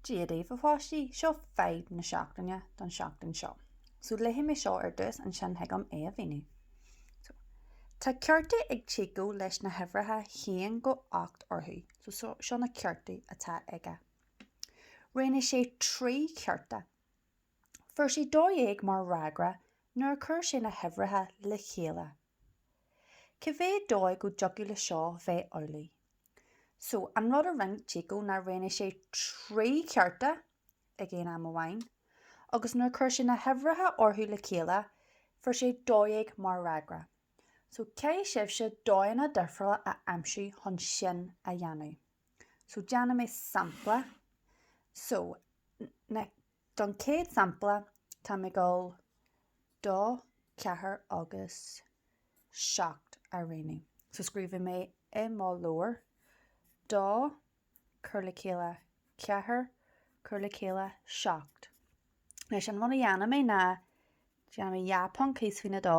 Dia daoibh, a pháistí! Seo fadhb na seachtaine don seachtain seo. So léifidh mé seo ar dtús, ansin thig liom é a mhíniú. So, tá cártaí ag Chico leis na huimhreacha 1 go 8 orthu. So seo, seo na cártaí atá aige. Roghnaigh sé trí chárta. Fuair sé 12 mar fhreagra nuair a chuir sé na huimhreacha le chéile. Cá mhéad dóigh go dtiocfadh le seo bheith amhlaidh? So, an rud a rinne Chico ná roghnaigh sé trí chárta ag aon am amháin, agus nuair chuir sé na huimhreacha orthu le chéile, fuair sé dó dhéag mar fhreagra. So, caithfidh sibhse dóigheanna difriúla a aimsiú chun sin a dhéanamh. So, déanfaidh mé sampla. So, na. Don chéad sampla, tá mé ag dul dó, ceathair agus seacht a roghnú. So scríobhfaidh mé i mo leabhar, dó, cur le chéile, ceathair, cur le chéile, seacht. Anois, an rud a dhéanfaidh mé ná, déanfaidh mé dhá phonc thíos faoin dó,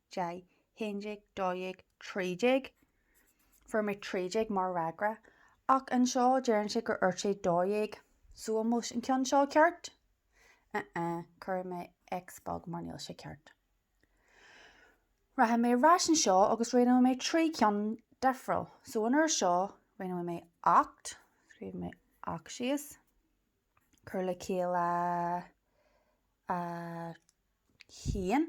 deich, haon déag, dó dhéag, trí déag. Fuair mé trí déag mar fhreagra, ach anseo deireann sé gur fhuair sé dó dhéag, so an bhfuil an ceann seo ceart? Uh-uh, cuirfidh mé X beag mar níl sé ceart. Rachaidh mé ar ais anseo agus roghnóidh mé trí ceann difriúil, so an uair seo roghnóidh mé ocht, scríobhfaidh mé ocht síos, cur le chéile a haon,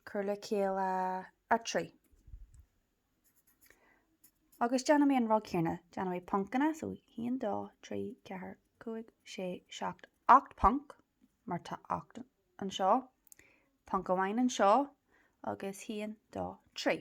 cur le chéile a trí. Agus déanfaidh mé an rud céanna, déanfaidh mé poncanna, so haon, dó, trí, ceathair, cúig, sé, seacht, ocht bponc, mar tá ocht anseo, ponc amháin anseo, agus haon, dó, trí.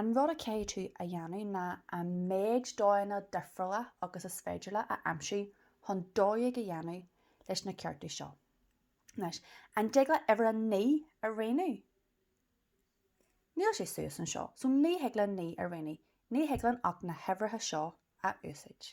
An rud a chaithfidh tú a dhéanamh ná an méid dóigheanna difriúla agus is féidir leat a aimsiú chun dó dhéag a dhéanamh leis na cártaí seo. Anois, an dtig leat uimhir a naoi a roghnú? Níl sé suas anseo, so ní thig leat naoi a roghnú, ní thig linn ach na huimhreacha seo a úsáid.